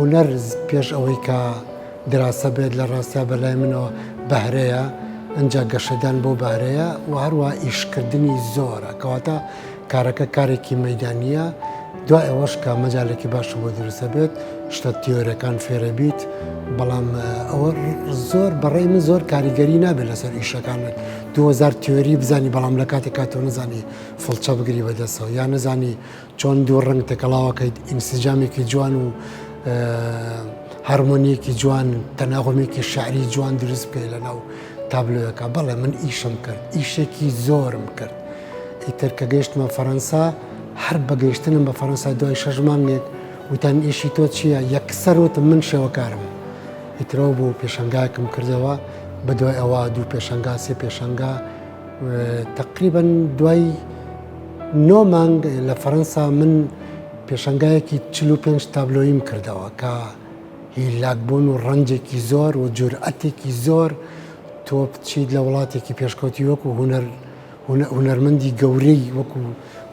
هونەر پێش ئەوەی کە دراسە بێت لە ڕاستیا بەلای منەوە بەهرەیە ئەجا گەشەدان بۆ بارەیە و هەروە ئیشکردنی زۆرە کەواتە کارەکە کارێکی مەیدانییە، دوای ئەوەش کە مەجالێکی باشی بۆ دروست دەبێت، شتە تیۆرەکان فێرە بیت، بەڵام ئەوە زۆر بەڕێی من زۆر کاریگەری نابێت لەسەر ئیشەکانت. دوو هەزار تیۆری بزانی بەڵام لە کاتێکا تۆ نەزانی فڵچە بگری بەدەستەوە، یا نەزانی چۆن دوو ڕەنگ تێکەڵاوەکەیت، ئینسجامێکی جوان و هارمۆنییەکی جوان، تەناغمێکی شیعری جوان دروست بکەیت لەناو تابلۆیەکا. بەڵێ من ئیشم کرد، ئیشێکی زۆرم کرد. ئیتر کە گەیشتمە فەرەنسا، هەر بە گەیشتنم بە فەرەنسا دوای شەش مانگێک وتیان ئیشی تۆ چییە؟ یەکسەر وتم من شێوەکارم. ئیتر ئەو بوو پێشەنگایەکم کردەوە، بەدوای ئەوە دوو پێشەنگا، سێ پێشەنگا. تەقریبەن دوای نۆ مانگ لە فەرەنسا من پێشەنگایەکی چل و پێنج تابلۆییم کردەوە کە هیلاکبوون و ڕەنجێکی زۆر و جورئەتێکی زۆر تۆ بچیت لە وڵاتێکی پێشکەوتی وەکوو هونەر هونەرمەندی گەورەی وەکو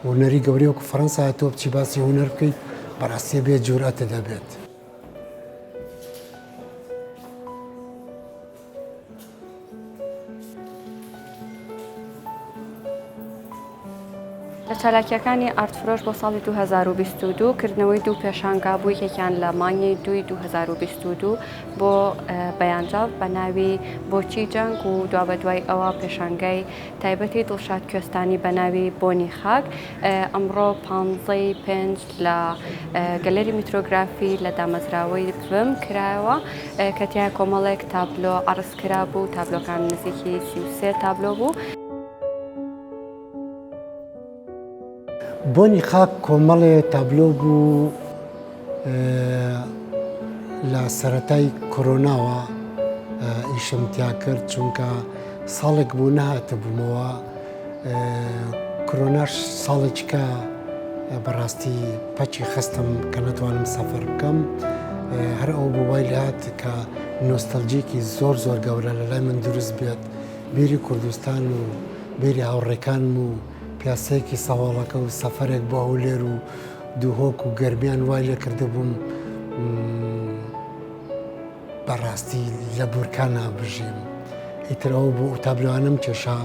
هونەری گەورەی وەکو فەرەنسا تۆ بچی باسی هونەر بکەیت بەڕاستێ بێت جورئەتە دەبێت. لە چالاکیەکانی ئارد فرۆش بۆ ساڵی 2022 کردنەوەی دوو پێشانگا بوو یەکێکیان لە مانگی دوی 2022 بۆ بەیانجاف بە ناوی بۆچی جەنگ و دوابەدوای ئەوە پێشانگای تایبەتی دڵشاد کوێستانی بە ناوی بۆنی خاک ئەمڕۆ پانزەی پێنج لە گەلەری میترۆگرافی لە دامەزراوەی بم کرایەوە کە تیا کۆمەڵێک تابلۆ عرض کرا بوو تابلۆکان نزیکی سیوسێ تابلۆ بوو. بۆنی خاک کۆمەڵێ تابلۆ بوو لە سەتای کۆرۆناوە ئیشم تیا کرد چونکە ساڵێک بوو نەهاتە بوومەوە کۆرۆناش ساڵێککە بەڕاستی پەچی خستم کە نەتوانم سەفەر بکەم هەر ئەو بۆوای لات کە نۆستەلجیکی زۆر زۆر گەورە لە لای من دروست بێت بیری کوردستان و بیری هاوڕێکانم و پیاسەیەکی سەواڵەکە و سەفەرێک بۆ هەولێر و دووهۆک و گەرمیان وای لێ کردبووم بەڕاستی لە بورکانا بژیم ئیتر ئەوە بۆ ئوتابلوانم کێشا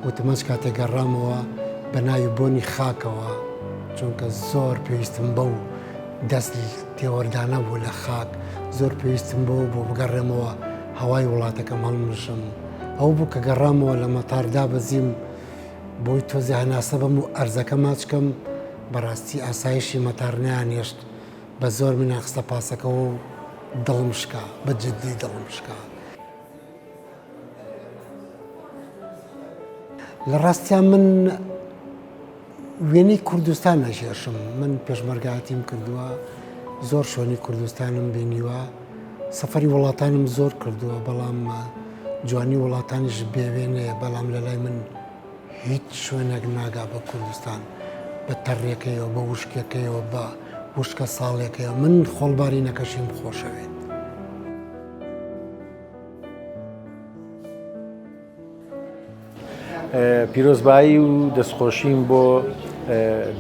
وتمەچ کاتێک گەڕامەوە بە ناوی بۆنی خاکەوە چونکە زۆر پێویستم بە و دەست تێوەردانە بوو لە خاک زۆر پێویستم بۆ بۆ بگەڕێمەوە هەوای وڵاتەکەم هەڵمژم. ئەو بوو کە گەڕامەوە لە مەتار دابەزیم بۆی تۆزێ هەناسە بەم و ئەرزەکە ماچکەم بەڕاستی ئاسایشی مەتار نەیانێشت بە زۆر منیان خستە پاسەکەوە و دڵم شکا بە جددی دڵم شکا. لە ڕاستیا من وێنەی کوردستان ئەکێشم، من پێشمەرگایەتیم کردووە، زۆر شوێنی کوردستانم بینیوە، سەفەری وڵاتانم زۆر کردووە، بەڵام جوانی وڵاتانیش بێ وێنەیە، بەڵام لە لای من هیچ شوێنێک ناگا بە کوردستان، بە تەڕێکەیەوە، بە وشکێکەیەوە، بە وشکە ساڵێکەیەوە، من خۆڵبارینەکەشیم خۆشەوێت. پیرۆزبایی و دەستخۆشیم بۆ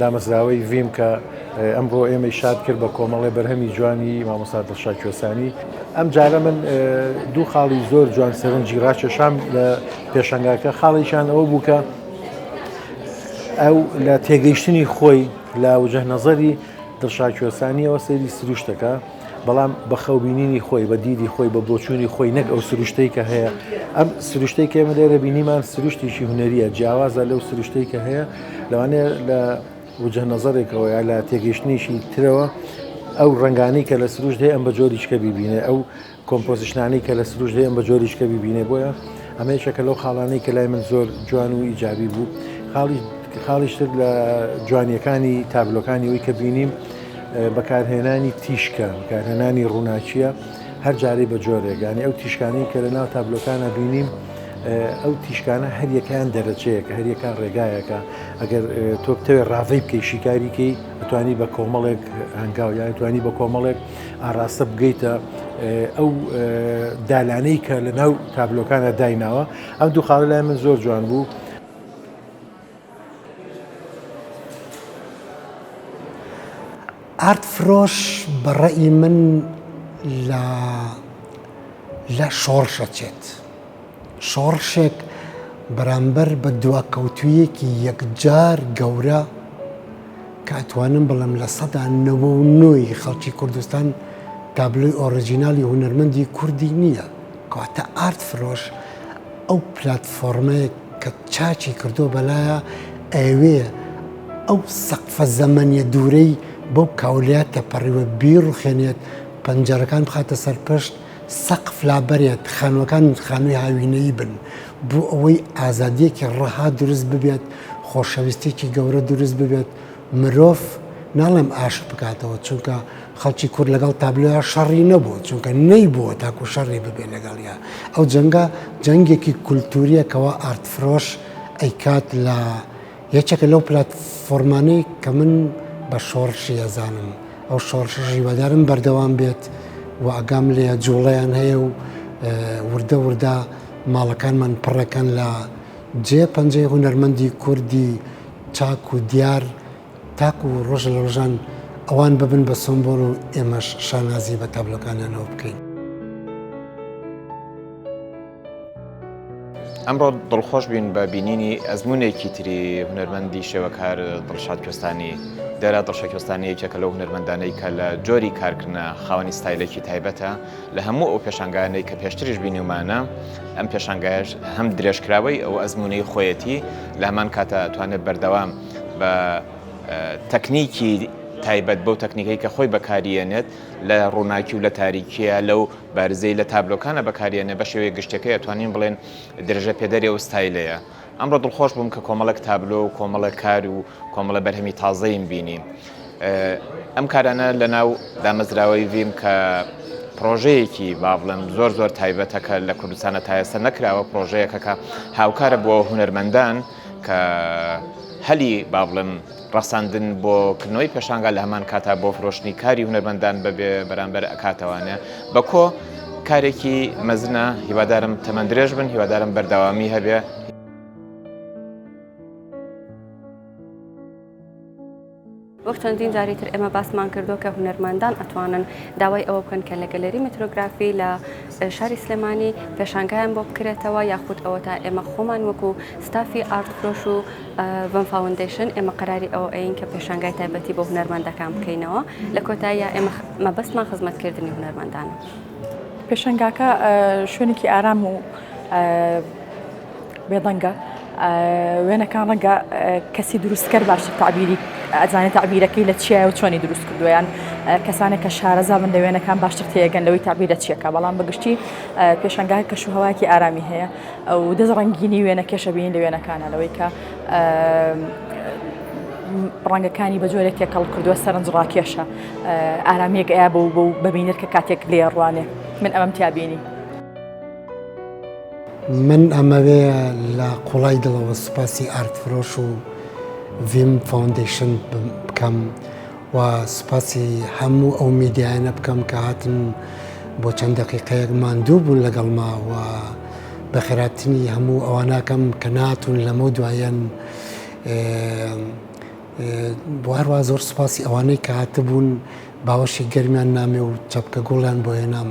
دامەزراوەی ڤیم کە ئەمڕۆ ئێمەی شاد کرد بە کۆمەڵی بەرهەمی جوانی مامۆستا دڵشا کوێسانی ئەم جارە من دوو خاڵی زۆر جوان سەرنجی ڕاکێشام لە پێشەنگاکە خاڵێکیان ئەوە بوو کە ئەو لە تێگەیشتنی خۆی لە وجه نەزەری دڵشا کوێسانیەوە سەیری سروشتەکە بەڵام بە خەو بینینی خۆی بە دیدی خۆی بە بۆچوونی خۆی نەک ئەو سروشتەی کە هەیە ئەم سروشتەی کە ئێمە لێرە بینیمان سروشتێکی هوەریە جیاوازە لەو سروشتەی کە هەیە لەوانەیە لە وجه نەزەرێکەوە یا لە تێگەیشتنیشی ترەوە ئەو ڕنگانی کە لە سروش هەیە ئەم بە جۆریشکە ببینێ ئەو کۆمپۆزیشنانی کە لە سروش هەیە ئەم بە جۆریشکە ببینێ بۆیە ئەمەیشەکە لەو خاڵانەی کە لای من زۆر جوان و ئیجابی بوو خاڵی خاڵیشتر لە جوانیەکانی تابلۆکانی وی کە بینیم بەکارهێنانی تیشکە، بەکارهێنانی ڕووناکییە هەر جارەی بە جۆرێک، یانی ئەو تیشکانەی کە لەناو تابلۆکانا بینیم، ئەو تیشکانە هەریەکەیان دەرەجەیەکە، هەریەکە ڕێگایەکە، ئەگەر تۆ بتەوێ ڕاڤەی بکەی شیکاریکەی ئەتوانی بە کۆمەڵێک هەنگاو یان توانی بە کۆمەڵێک ئاراستە بگەیتە ئەو دالانەی کە لەناو تابلۆکانە دایناوە، ئەم دوو خاڵە لای من زۆر جوان بوو. ئارد فرۆش بە ڕەئی من لە لە شۆڕشە چێت شۆڕشێک بەرامبەر بە دواکەوتویەکی یەکجار گەورە کە ئەتوانم بڵم لە سەدا نەوە و نۆی خەڵکی کوردستان تابلۆی ئۆرژینالی هونەرمەندی کوردی نییە کەواتە ئارد فرۆش ئەو پلاتفۆڕمەیە کە چاکی کردووە بەلایە ئەیەوێ ئەو سەقفە زەمەنیە دوورەی بەو کاولەیە تێپەڕیوە بیڕوخێنێت پەنجەرەکان بخاتە سەر پشت سەقف لابەرێت خانووەکان خانووی هاوینەیی بن بۆ ئەوەی ئازادیەکی ڕەها دروست ببێت خۆشەویستێکی گەورە دروست ببێت مرۆڤ ناڵێم ئاشت بکاتەوە چونکە خەڵکی کورد لەگەڵ تابلۆیا شەڕی نەبوو، چونکە نەیبووە تاکو شەڕی ببێت لەگەڵیا. ئەو جەنگە جەنگێکی کولتوورییە کەوا ئارتفرۆش ئەیکات لە یەکێکە لەو پلاتفۆرمانەی کە من بە شۆڕشی ئەزانم. ئەو شۆڕشەش هیوادارم بەردەوام بێت و ئاگام لێیە جووڵەیان هەیە و وردە وردە ماڵەکانمان پڕ ئەکەن لە جێ پەنجەی هونەرمەندی کوردی چاک و دیار. تاکو ڕۆژ لە ڕۆژان ئەوان ببن بە سۆمبۆل و ئێمەش شانازی بە تابلۆکانیانەوە بکەین. ئەمڕۆ دڵخۆش بووین بە بینینی ئەزموونێکی تری هونەرمەندی شێوەکار دڵشاد کوێستانی. دێرا دڵشاد کوێستانی یەکێکە لەو هونەرمەندانەی کە لە جۆری کارکردنە خاوەنی ستایلێکی تایبەتە لە هەموو ئەو پێشانگایانەی کە پێشتریش بینیومانە ئەم پێشانگایەش هەم درێژکراوەی ئەو ئەزموونەی خۆیەتی لە هەمان کاتە ئەتوانێت بەردەوام بە تەکنیکی تایبەت بەو تەکنیکەی کە خۆی بەکاریەنێت لە ڕووناکی و لە تاریکیە لەو بارزەی لە تابلۆکانە بەکاریەنێ بە شێوەیە گشتەکەی ئەتوانین بڵێن درژە پێدەری و ستایلەیە ئەمڕۆ دڵخۆش بووم کە کۆمەڵک تابلۆ و کۆمەڵە کار و کۆمەڵە بەرهەمی تازەیم بینی ئەم کارانە لە ناو دامەزراوەی ڤیم کە پرۆژەیەکی باڵم زۆر زۆر تایبەتەکە لە کوردستانە تایەسە نەکراوە پرۆژەیەکەکە هاوکارە بۆ هوەرمەندان و کە هەلی با بڵێم ڕەخساندن بۆ کردنەوەی پێشانگا لە هەمان کاتا بۆ فرۆشتنی کاری هونەرمەندان بەبێ بەرامبەر ئەکاتەوانە بە کۆ کارێکی مەزنە هیوادارم تەمەند درێژ بن هیوادارم بەرداوامی هەبێ. وەک چەندین جاری تر ئێمە باسمان کردووە کە هونەرمەندان ئەتوانن داوای ئەوە بکەن کە لە گەلەری مترۆگرافی لە شاری سلێمانی پێشانگایان بۆ بکرێتەوە یاخود ئەوە تا ئێمە خۆمان وەکو ستافی ئارد فرۆش و بەم فاوندیشن ئێمە قراری ئەوە ئەین کە پێشانگای تایبەتی بۆ هونەرمەندەکان بکەینەوە لە کۆتاییە ئێمە مەبەستمان خزمەتکردنی هونەرمەندانە پێشنگاکە شوێنێکی ئارام و بێدەنگە وێنەکان ڕەنگە کەسی دروستکەر باشتر تعبیری ئەزانێت تعبیرەکەی لە چیایە و چۆنی دروست کردویان کەسانێک کە شارەزا من لە وێنەکان باشتر تێگەن لەوەی تعبیرە چیەکە بەڵام بەگشتی پێشنگای کەش و هەواکی ئارامی هەیە ئەو دەست ڕنگینی وێنە کێشەبیین لە وێنەکانە لەوەی کە ڕەنگەکانی بە جۆرێک تێکەڵ کردووە سەرنج ڕاکێشە ئارامیەک ئەیا بە بە بەبینەر کە کاتێک لێ ڕوانێ من ئەمەم تیابینی. من ئەمەوێ لە قوڵای دڵەوە سوپاسی ئارت فرۆش و ڤیم فۆندیشن بکەم و سوپاسی هەموو ئەو میدیایانە بکەم کە هاتن بۆ چەند دەقیقەیەک ماندوو بوون لەگەڵما و بە خێراتنی هەموو ئەواناکەم کە ناتون لەمە دوایەن بواروا زۆر سوپاسی ئەوانەی کە هاتبوون باوەشی گەرمیان نامێ و چەپکە گوڵیان بۆ هێنام.